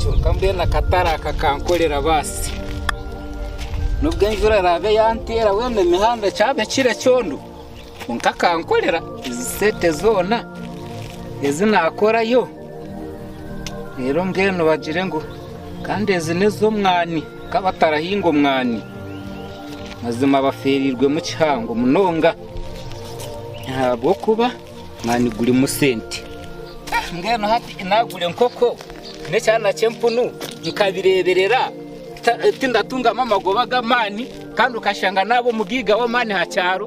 Kyonka mbwenu akatare aka kankorera baasi. Nubwo enjura eraabe yanteera mbwenu emihanda kyabe kiri ekyondo, kwonka kankorera. Ezi sente zoona ezi naakorayo reero mbwenu bagire ngu kandi ezi n'ez'omwani ka batarahinga omwani. Mazima bafeerirwemu kihango munonga ahabw'okuba... Mani gurimu sente. Mbwenu hati naagura enkoko n'ekyana ky'empunu nkabireeberera tindatungamu amagoba g'amaani kandi okashanga naaba omugaiga w'amaani aha kyaro.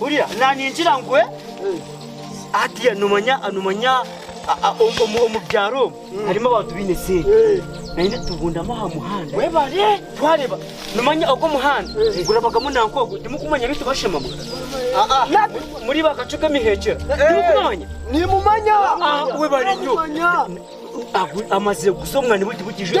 Hurira, naaningira ngwe, hatiiya noomanya omu byaro omu harimu abantu baine eseeri. Naanye nitubundama aha muhanda twareeba, noomanya ogu omuhanda gurabagamu nanka ogu, timukumanya abaitu bashema mwe? Muri ba kacu k'emiheekyera, timukubamanya? Webare nyo. Amazire kuza obunani bwe tibukijwire.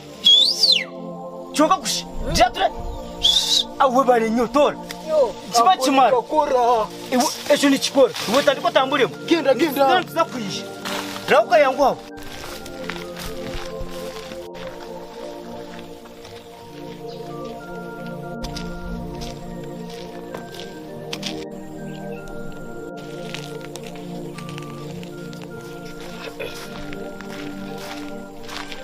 Kyoka kushi gira ture awe bale nyo tora kiba kimara iwe ekyo nikikora iwe tandika otamburemu genda genda then tuza kwija raho kayangu aho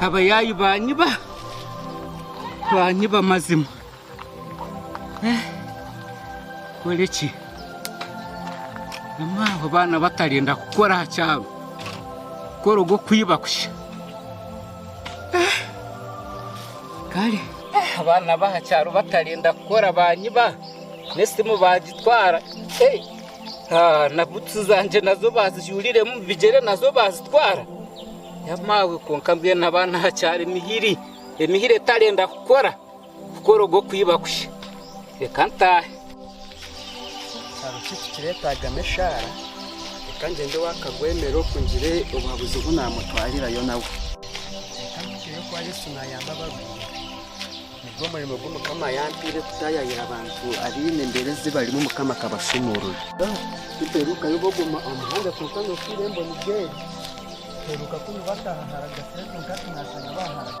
Abayaayi baanyiba, baanyiba mazima. Nkore ki? Mama abo baana batarenda kukora aha kyaro, kukora ogw'okwiba kusha. Kare abaana b'aha kyaro batarenda kukora baanyiba, n'esimu baagitwara. na butusi zangye nazo baazijuuriremu omu bigyere nazo baazitwara? Ya maawe kwonka mbwenu abaana hakyari emihiri, emihiri etarenda kukora, kukora ogwo kwiba kusha. Reka ntaahe. Hariho shi ekikireetaagamu eshaara? Reka ngyende ow'akagwemere oku ngire obuhabuzi obu naamutwarirayo nawe. Reka mpikeyo kwa Yesu naayamba abarwaire. Nigwo murimo ogu Mukama ayampaire kutaayaayira abantu abaine embeera ezi barimu Mukama akabashuumurure. Tituherukayo bogoma omu muhanda kwonka nokuhwera emboni z'eri tuheruka kunu bataaha hara Gasire kwonka hati nashanga baaharaga.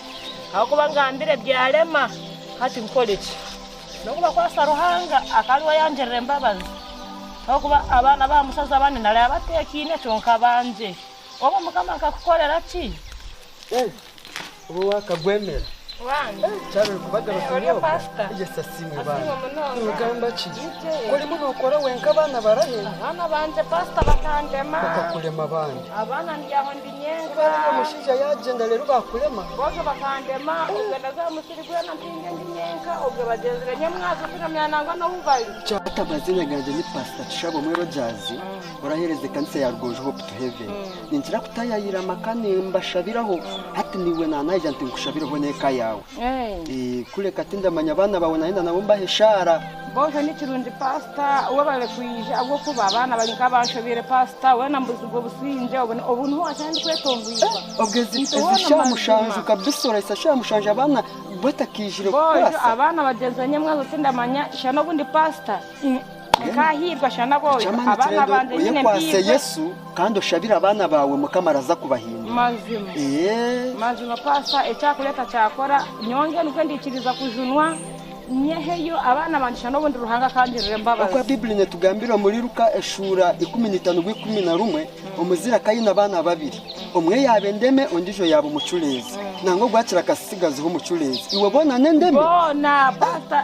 Ahakuba ngambire byarema, hati nkore ki? N'okubakwasa Ruhanga akaba ari we ayangirira embabazi. Ahakuba abaana ba mushaija bane naraaba bateekaine, kyonka bangye. Obwo Mukama nkakukorera ki? Kuba niiwe mushaija yaagyenda reero baakurema. Boona bakandema, obwe naza aha musiri gwena mpinge ndi nyenka, obwe bagyenzi be nyamwazo kuramya nangwa n'obu bari. Cwaka amazina gangye ni Pastor Tushabomwe Rogers, orahereza ekanisa ya Rugonjo Hope to Heaven. Ninkira kutayaayira amaka nimbashabiraho, hati naiwe naanayija nti nkushabireho n'eka yaawe. Kureka tindamanya abaana baawe nayenda nabo mbahe eshaara. Boohe nikirungi paasita we barikwija ahabw'okuba abaana bari nk'abanshobeire paasita. Weena mbuzigwe obusingye obu obu niho waatandika kwetongwiza. Obwo ezi ezi shaaha mushanju kabisa oraitsa shaaha mushanju abaana batakaijire kukwasa. Boojo abaana bagyenzi banyamwazo tindamanya shana obundi paasita. Nkahiirwa shana boona abaana bangye nyine mpairwe. Oyekwase Yesu kandi oshabire abaana baawe mukama araza kubahindura. Mazima. Eeh. Mazima pastor ekyakureta kyakora nyowe mbwenu nikwo ndikiriza kujunwa nyeheyo abaana bangye shana obundi Ruhanga akangirira embabazi. Okwa bibuli netugambira omuri Luka eshura ikumi naitano bwa ikumi na rumwe omuzire akaba aine abaana babiri omwe yaba endeme ondijo yaba omucureezi nangwa ogwakira akasitsigaziho omucureezi iwe boona n'endeme? Boona pastor.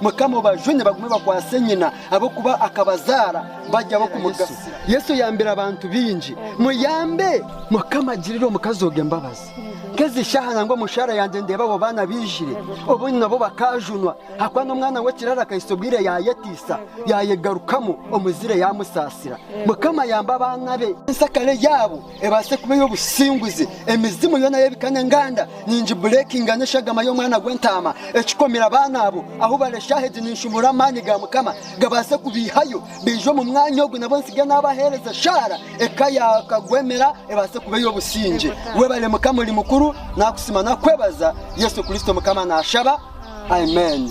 Mukama obajune bagume bakwase nyina ab'okuba akabazaara bari ab'okumugasira. Yesu oyambire abantu baingi, muyambe. Mukama girira omukazi ogu embabazi. Nk'ezi shaaha nangwa omushaara yangye ndeeba abo baana baijire obungi nabo bakaajunwa ahakuba n'omwana w'ekiraara akahitsya obwire yaayetiisa yaayegarukamu omuzire yaamusaasira. Mukama yamba abaana be. Ensakare yaabo Ebaase kuba ey'obusinguzi, emizimu yoona y'ebika n'enganda ningibureekinga n'eshagama y'omwana gw'entaama. Ekikomire abaana abo ahu bari eshaaha egi ninshuumura amaani ga Mukama gabaase kubaihayo baije omu mwanya ogu nabo ntsige naabaheereza eshaara eka yaakagwemera ebaase kuba ey'obusingye. Webale Mukama ori mukuru, nakusiima nakwebaza. Yesu Kristo Mukama naashaba. Amen.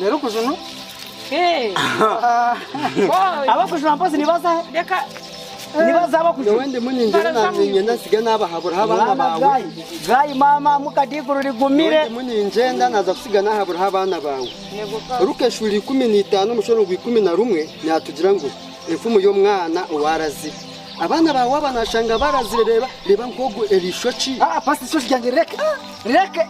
Reero kujunwa. Hey. abakujuna mpozi nibazahe Leka. nibaza abakujuna Nyowe ndimu ningira nanyenda nsige nabahaburaho abaana mwana baawe. gayi gayi mama muka diguru Nyowe rigumire ndimu ningyenda naza kusiga nahaburaho abaana baawe. Nego ka. Ruka eshuli ikumi na itaano omushoro gwa ikumi na rumwe neyatugira ngu enfumu y'omwana owarazire. Abaana ba waaba nashanga barazire reeba reeba nk'ogu erishokye. Ah, ah, pastor ishookye ryange rireke rireke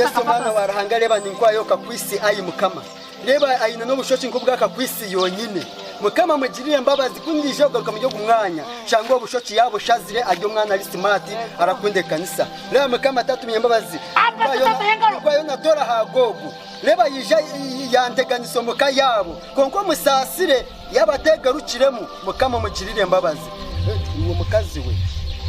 Yesu Omwana wa Ruhanga reeba ni nk'oku ayoka kwisi ai Mukama. Reeba aine n'obushoki nk'obwa kakwisi yonyine. Mukama mugirire embabazi ku ndiija kugaruka muri ogu mwanya shange obushoki yaabushazire ari omwana ari simaati arakunda ekanisa. Reeba Mukama tatumya embabazi nk'oku ariyo natora aha Googu. Reeba yaija yanteganisa omu ka yaabo. Kwonka omusaasire. Yaaba ateegarukiremu, mukama omugirire embabazi. Iwe mukazi we,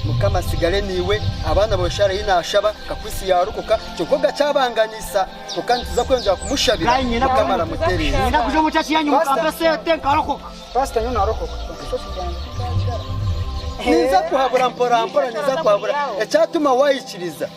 mukama atsigare naiwe, abaana bawe Sharehi naashaba, kakuitsi yaarokoka, kyonka ogakyabanganisa. Kwonka nituza kweyongyera kumushabira, mukama aramutereeza. Ninza kuhabura mporampora, ninza kuhabura. Ekyatuma waikiriza.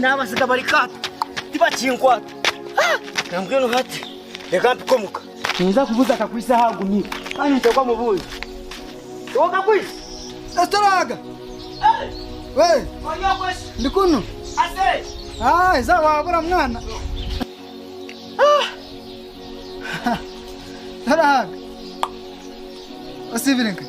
Naabatsiga bari kaato tibakinkwata. Ka mbwenu hati reka mpike omuka. Ninza kubuuza kakwitse ahu agumire kandi ninteekwa mubuuze. Iwe kakwitse? Kasita oraaga. Ndi kunu. Haiza waabura mwana. Oraaga. Osiibire nkahi?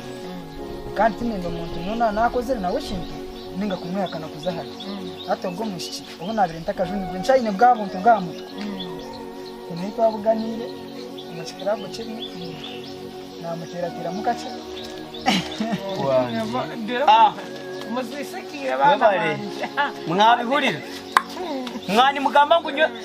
Kandi tindenda omuntu yoona naakozire nawe ekintu ninga kumwihakana kuza ahari hati ogwo mwishiki obu naabaire ntakajunirwe nkyaine bwa buntu bw'aha mutwe. Nyine ei twabuganiire omu kikiraabu kimwe naamuteerateeramu kakye. Mwabihurira? Mwanimugamba ngu nyowe.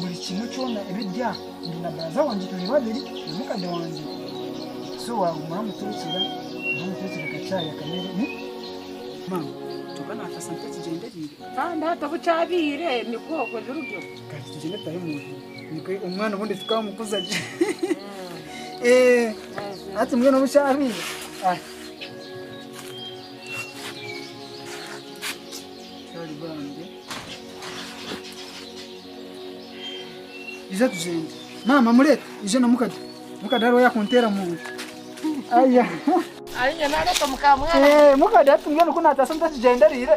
buri kimwe kyona ebi ebya ndi na baraza wangye turi babiri na mukade wangye so waguma oramutekyera oramutekyera akachayi akamere mama kyoka nakasa nka ekigyenderire kandi hati obu kyabiire nikwo okwe birugyo kandi tugyende tutahe muntu nikwe omwana obundi tukamukuza gye eh hati mbwenu obu kyabiire ah sorry bambi Ija tugyende. Maama mureke ije na mukade. Mukade hariho yakunteera mu nda. Aya. Ari inye nareka mukamwana. Eh, mukade ati mbwenu ku naataasa mutakigyendereire.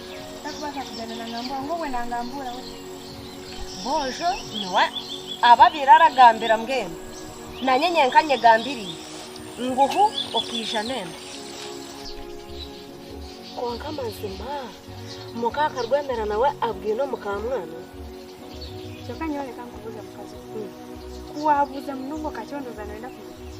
Tarikubaasa kugyenda naangambuura ngu obwe naangambuura we. Boojo niwe ababeire aragambira mbwenu naanye nyenka nyegambiriire ngu hu okaija n'embi. Kwonka amazima muka Karwendera nawe abwine omukaamwana? Kyonka nyowe reka nkubuuze mukazi we, ku waabuuza munonga okakyondooza nooyenda kumanya ki?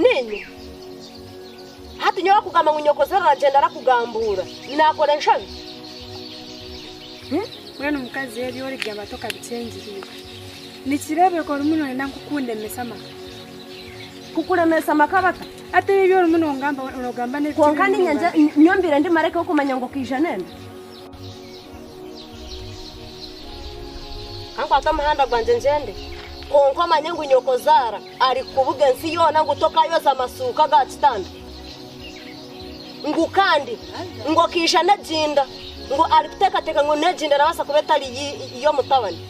Niinye? Hati nyowe akugamba ngu nyokozora aragyenda arakugambuura, naakora enshabi? Mbwenu mukazi ebi oribyama tokabikyengyereire. Nikireebeka orimu nooyenda ngu kundemesa amaka. Kukuremesa amaka bata? Hati ebi ebi orimu noogamba, noogamba n'ebitari kwonka niinye bimwe nyowe mbaire ndi mareka w'okumanya ngu okaija n'enda? Ka nkwate omuhanda gwangye ngyende, kwonka omanye ngu nyokozaara arikukubuga ensi yoona ngu tokaayoza masuuka ga kitanda, ngu kandi ngu okaija n'eginda, ngu arikuteekateeka ngu n'eginda erabaasa kuba etari y'omutabani.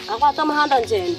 Ka nkwate omuhanda ngyende.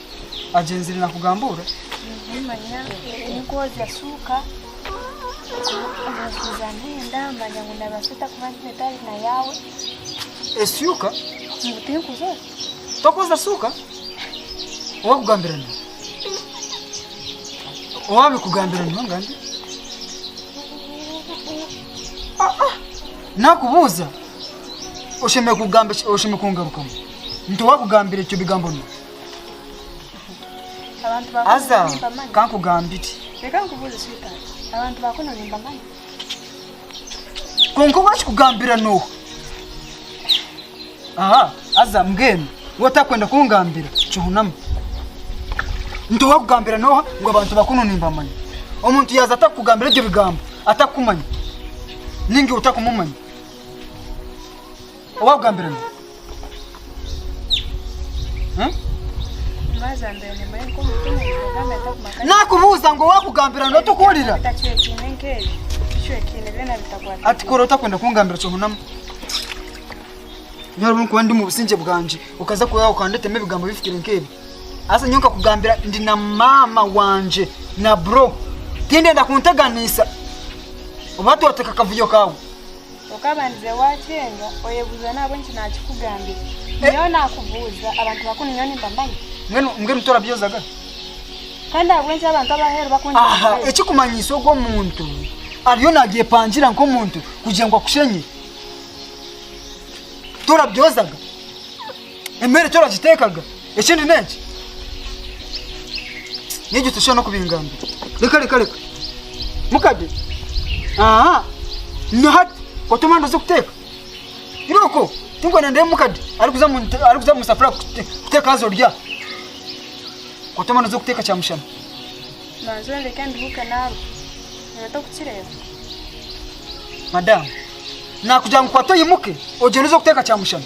agyenzire nakugamba ora. Nimanya ninkwozya suuka omukuza mpenda manya ngu nabasa ota kuba mpeta ari na yaawe. Esyuka? Ngu tinkuzozya. Tokozya suuka? Owakugambira niwe? Owabikugambira niwe ngandi? Nakubuuza oshemereire kugamba oshemereire kungarukamu nti owakugambira ekyo bigambo niwe? Abantu ba Aza, kuno nimbamanya. kankugambire. Reka nkubuuze sweetheart. Abantu ba kuno nimbamanya. Kwonka owakikugambira n'oha? Aha, aza mbwenu. Waaba otakwenda kungambira, kihunama. Nti owakugambira n'oha ngu abantu ba kuno nimbamanya? Omuntu yaaza atakukugambira ebyo bigambo, atakukumanya, nainga iwe otakumumanya. owakugambire ngu nakubuuza ngu owakugambira ngu tokuhurira ati kora otakwenda kungambira kyohunamu nyowe orikuba ndi mu busingye bwangye okaza okandetema ebigambo bifukire nk'ebi asa nyowe nkakugambira ndi na maama wangye na bro tindenda kunteganiisa oba twateka akavuyo kaawe okaba nize waakyenga oyebuuza naabwe nki naakikugambira. Nyowe naakubuuza abantu bakunu nyowe nimbamanya? Mbwenu mbwenu torabyozaga? Kandi ahabw'enki abantu ab'aheeru bakungira aha omubeezi? ekikumanyisa ogwo omuntu ariyo nagyepangira nk'omuntu kugira ngu akushenye torabyozaga emere eki oragiteekaga ekindi n'enki n'egi toshuba n'okubingambira reka reka reka mukade aha na hati otuma ndoze kuteeka iroko tinkwenda ndeebe mukade arikuza mu nte- arikuza mu safuriya kute- kuteeka haza orya otuma ndoze kuteeka kyamushana manzi ondeke nduhuuke naarwa nooba tokukireeba madamu nakugira ngu kwata oyimuke ogyende oze kuteeka kyamushana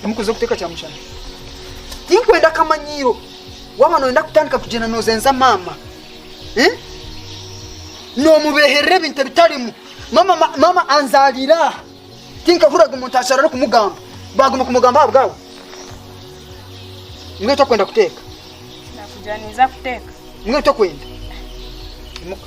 Timukwenda kuteeka kyamushana? Tinkwenda akamanyiiro. Waaba nooyenda kutandika kugyenda noozenza maama, noomubeeherera ebintu ebitarimu. Maama maama anzaariire aha, tinkahuriraga omuntu ashaaha arikumugamba. Baaguma kumugamba ahabwawe? Mbwenu tokwenda kuteeka? Nakugira ninza kuteeka. Mbwenu tokwenda? Imuka.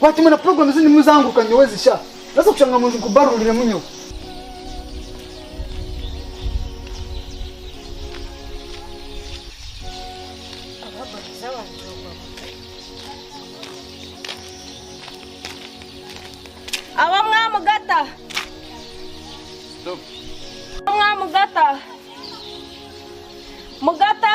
Kwata imwe na puroguramu zindi muzanguruka nyowe zisha. Noza kushanga ngu nkubaruuriremu nyowe. Aho mwamugata. Aho mwamugata. Mugata.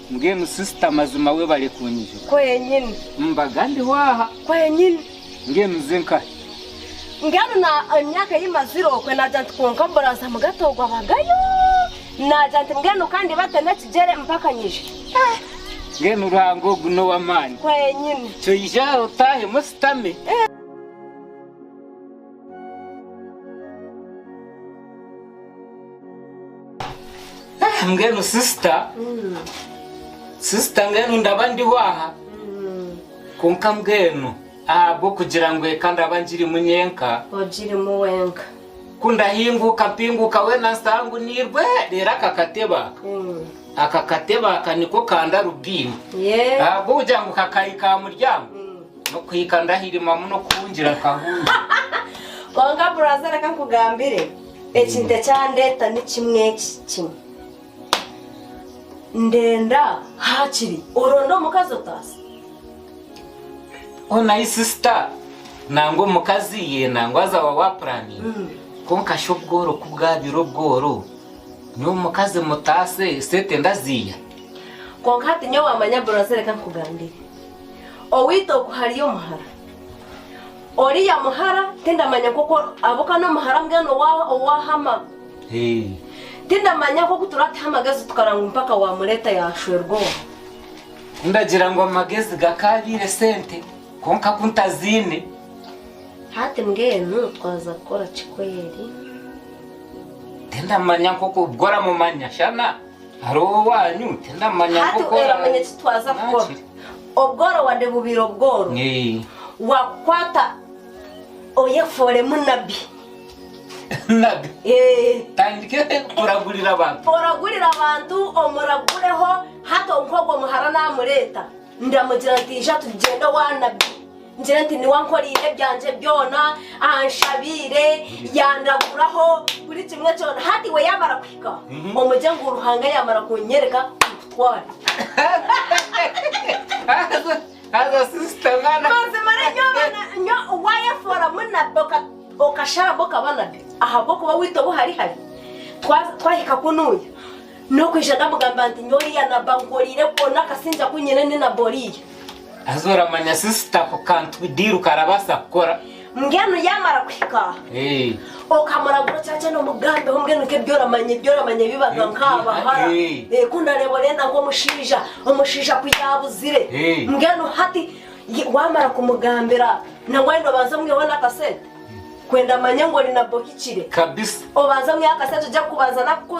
Mbwenu sister mazima webale kunyija. Kwenyini. Mbaga ndiho aha. Kwenyini. Mbwenu nze nkahe. Mbwenu na emyaka eyimazire okwe nagira nti kwonka mburaza mugato ogwo abagayo nagira nti mbwenu kandi bate nekigyere mpaka nyije. Eh. Mbwenu Ruhanga ogu nowamaani. Kwenyini. Kyoija otahemu ositame. Eh. mbwenu sisita sisita mbwenu ndaba ndiho aha kwonka mbwenu ahabw'okugira ngu eka ndaba ngirimu nyenka ogirimu wenka ku ndahinguka mpinguka weena nsitaha ngu niirwe reero aka katebe aka Mm. aka katebe aka niko ka ndarubindi Yeah. ahabw'okugira ngu kakahika aha muryango Nokuhika ndahirimamu nokuhungira kahungi. Kwonka buraza reka nkugambire ekintu ekyandeta nikimwe eki kimwe ndenda hakiri oronde omukazi otaase. Ona yi sister nangwa omukazi iye nangwa azawa wa planning mm. konka sha obworo kubwabire obworo nyowe omukazi mutaase sete ndaziya konka hati nyowe wamanya buraza reka nkugambire Owaitu oku hariyo omuhara. Oriya muhara tindamanya nk'oku ahabw'okuba n'omuhara mbwenu owa- owahama. Hey. Tindamanya nk'oku turataho amagezi tukara ngu mpaka wamureeta yashwerwa omu. Ndagira ngu amagezi gakaabaire sente kwonka ku ntaziine. Hati mbwenu twaza kukora ki kweri? Tindamanya nk'oku, obwo oramumanya shana? Hariho owanyu tindamanya hati nk'oku ora- oramanya eki twaza kukora Nakiri. obworo wade bubaire obworo Eh, wakukwata oyefooremu nabi nabi Eh, tandike kuragurira abantu oragurira abantu omuragureho hati nk'ogwo muhara namureeta ndamugira nti ija tugyende owa nabi Ngire nti niwe ankoreire ebyangye byona, anshabiire, yandaguraho buri kimwe kyona. Hati iwe yaamara kuhika, omugye ngu Ruhanga yaamara kunyoreka nkutware. Haza sisita mwana. Mazima re nyo abana nyo wayefoora munabi oka- okasharabo okaba nabi ahabw'okuba waitu obu hari hari twa- twahika kunuuya n'okwija ndamugamba nti nyowe oriya nabi ankoreire kwona akasingye aku nyine ni nabi oriya. Haza oramanya sister ako kantu kudiiru karabaasa kukora. Mbwenu yaamara kuhika okamurabura okyagyenda omugambeho mbwenu nk'ebyoramanya ebyoramanya bibaga nk'abahara ku ndareeba orenda nk'omushaija omushaija ku yaabuzire mbwenu hati waamara kumugambira nangwa oyenda obanze omwiheho n'akasente kwenda amanye ngu ori nabwe ohikire obanze omwiheho akasente ogye kubanza naku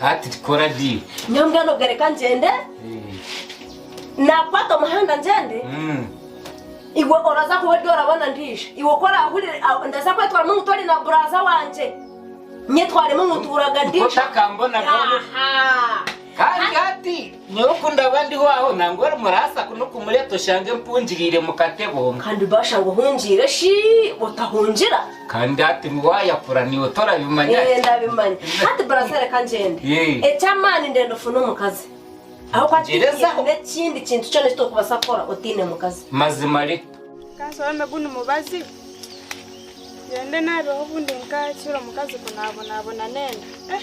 Hati tukora gi. Nyowe mbwenu obwe reka ngyende nakwata omuhanda ngyende mm. iwe oraza kuba ori orabona ndiija iwe ku orahurire ndaza kwetwara mungu tori na buraza wangye nyetwaremu ngu nturaga ndiija otakambona kandi hati Nyowe ku ndaba ndiho aho, nangwa ori muraasa kunu kumureeta oshange mpungiriire mu katebo. Kandi baashanga ohungiire shi otahungira? Kandi hati waayakura niiwe torabimanya? Ee, ndabimanya. Hati baraasa reka ngyende. Ee. Eky'amaani ndenda ofune omukazi. Ahabw'okuba Tegerezaho. tihaine ekindi kintu kyona eki torikubaasa kukora otaine mukazi. Mazima re. Ka nshobeme gu ni mubazi, ngyende naabeho obundi nkahikiirwe omukazi ku naabonabona n'enda. Eh!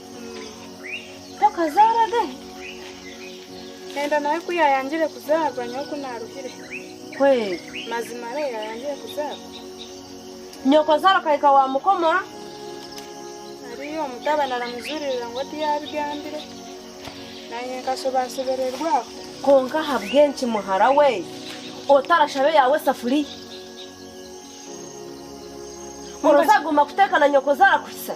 Tokazaara ge? Enda nawe ku yaayangire kuzaarwa nyowe ku naaruhire. Kweli. Mazima re yaayangire kuzaarwa. Nyokozaara akahika waamukomora. Hariyo omutabani aramujuririra ngu oti yaabigambire. Naanye nkashobaashobererwa aho. Kwonka ahabw'enki muhara we otarashaba eyaawe esafuriya? Orooza aguma kuteeka na nyokozaara kuhitsya?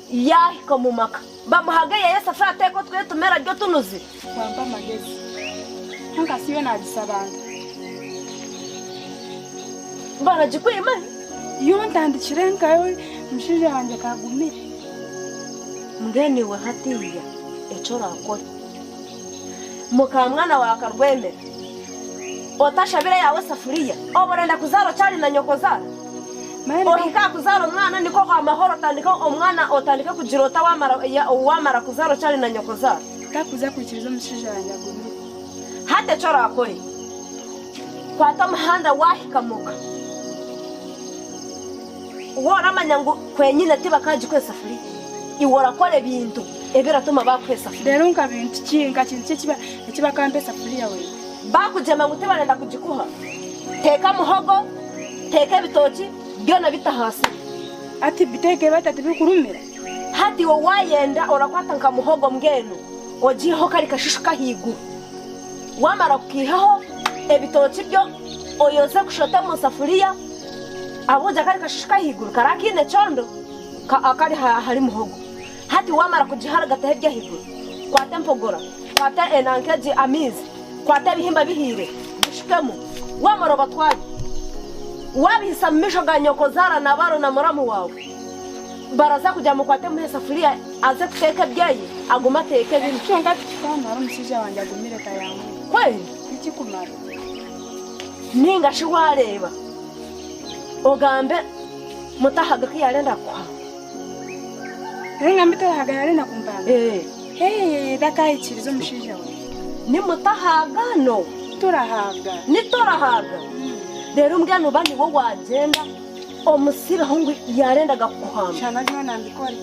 Yaahika omu maka, bamuha aga yaayeesa afe ateeke otwe tumere arye otunuzi. Bampa amagezi, kwonka siiwe naagisa abantu. Baragikwima hi? Yo ntandikire nkawe, mushaija wangye ka agumire. Mbwenu iwe hatiiya eki oraakore. Muka mwana wa karwemera, otashabira yaawe esafuriya. Oba orenda kuzaara okyali na nyoko zaara. Ohike aha kuzaara omwana nikwo amahoro otandike omwana otandike kugira ota waamara kuzaara okyali na nyoko zaara. Takuza kwikiriza omushaija wangye agumire. Hati eki oraakore, kwata omuhanda waahika muka. Waaba oramanya ngu kwenyine tibakaagikwera esafuriya, iwe orakora ebintu ebiratuma baakuha esafuriya. Reero nka bintu ki, nka kintu ki eki bakaampa esafuriya weena? Baakugyema ngu tibarenda kugikuha, teeka muhogo, teeka ebitooki, byona bite ahaasiri. Hati biteeke bata tibikurumira? Hati iwe waayenda orakwata nka muhogo mbwenu ogiiheho kari kashishu k'ahaiguru. Waamara kukaihaho, ebitooki byo oyoze kushote omu safuriya. Ahabw'okugira kari kashushika ahaiguru, kari akaine ekyondo akari ahari muhogo. Hati waamara kugiharagataho eri ahaiguru, kwata empogora, kwata enanka egi, amaizi, kwata ebihimba bihiire, bishukemu. Waamara obatware, waabihitsya mu maisho ga nyokozaara na baaro na muramu waawe. Baraza kugira ngu mukwate muhe esafuriya aze kuteeka ebyayi, agume ateeke binu. Kwonka tikikaamuhara omushaija wangye agumire tayaamuha. Kweli? Tikikumara. Ninga shi waareeba ogambe mutahaga ku yaarenda kukuha. Reero ngambe mutahaga yaarenda kumpanga. Hee, takaahikiriza omushaija we. Ni mutahaga no? Torahaga. Ni torahaga. Reero mbwenu ba niwe waagyenda omusiibeho ngu yaarendaga kukuhamba. Shana byona mbikore.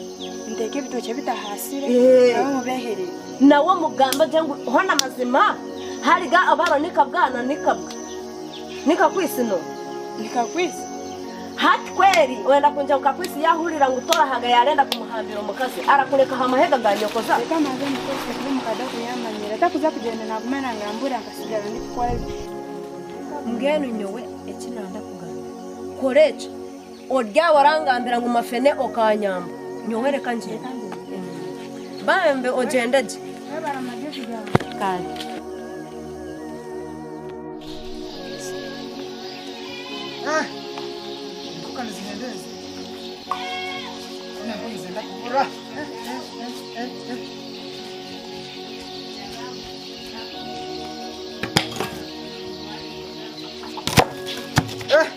Nteeke ebitookye bitahaasire nabo omu beehere. Nawe omugambe gye ngu hoona mazima hariga obwaba ni kabwa na ni kabwa. Ni kakwisi no? Ni kakwisi. Hati kweri oyenda kungira ngu kakwisi yaahurira ngu torahaga yaarenda kumuhambira omukazi arakureka aha mahega ga nyokoza? Reka mbanze mukorese kubi omu ka Dago yaamanyira. Takuza kugyenda naaguma naangambuura nkasigara ndikukora bi. Mbwenu nyowe eki nanda kugamba, kora ekyo. Oryaba orangambira ngu mafene okanyamba, nyowe reka ngyende. Bambi ogyende gye. Kandi.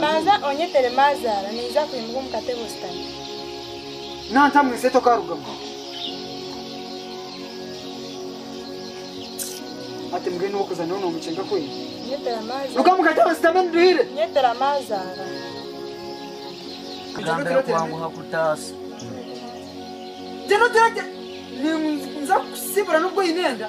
Manza onyetere maazaara ninza kwimuka omu katebe oshutame. Nantamu ensi eti okarugamu. Ati mbwenu niwe okuza nyowe nomucenga kweli. Nyetera maazaara. Ruga mu katebe oshutame niduhire. Nyetera maazaara. Kugambira kubanguha kutaasa. Gye nogira gye ninza kukusibura nobwo oine enda.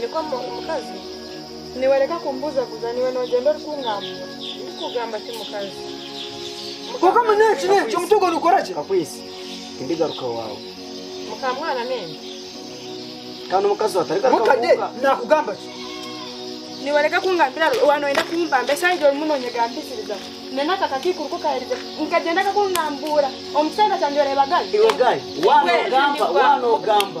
Nikwo omukazi. Niwe reka kumbuzaguza niwe nogyenda ori kungambura. Ndikugamba ki mukazi? Kwonka manya eki n'eki, omuti ogwo nigukora ki? Kakwesi, tindigaruka ewaawe. Mukamwana n'ente. Kandi omukazi we atarigaruka mu Mukade ka. naakugamba ki? Niwe reka kungambira ru- waaba nooyenda kumpamba esaaha orimu noonyegambisiriza. Na n'aka kakaikuru ku kaaherize nikagyenda kakungambuura. Omu kicweka kyangye oreeba gali? Iwe gali, waaba Iwe, noogamba, nibwa. waaba noogamba.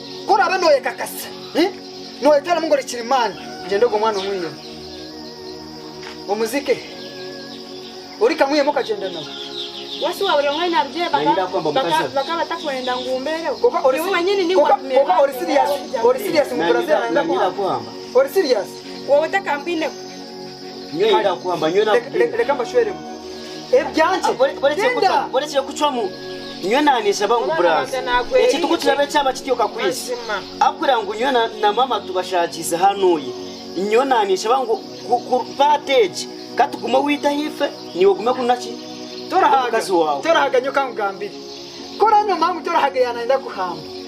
Ku oraabe nooyekakasa, nooyetwaramu ngu ori kirimaani, gyenda ogwo mwana omwihemu, omuziike he? Ori kamwihemu okagyenda nawe? Washusha waaba ori omwe ahine abagyenyi bakaba batakwenda ngu mbeereho? Niiwe wenyini niiwe watumire baanyemerera ahabw'obujaguzi bwabo. Waaba otakampaineho. Reka mbashweremu ebyangye. Borekire kucwamu. Nyowe naaneshaba ngu buraansi ekitugu kiraabe kyaba kityo kakwisi. Ahakugira ngu nyowe na maama tubashaagiize hanuuya. Nyowe naaneshaba ngu paati egi ka tugume owaitu aha ife, naiwe ogume kunu na ki? Torahaga nyowe ka nkugambire. Ku oranywa mama ngu torahaga yaaba naayenda kuhamba.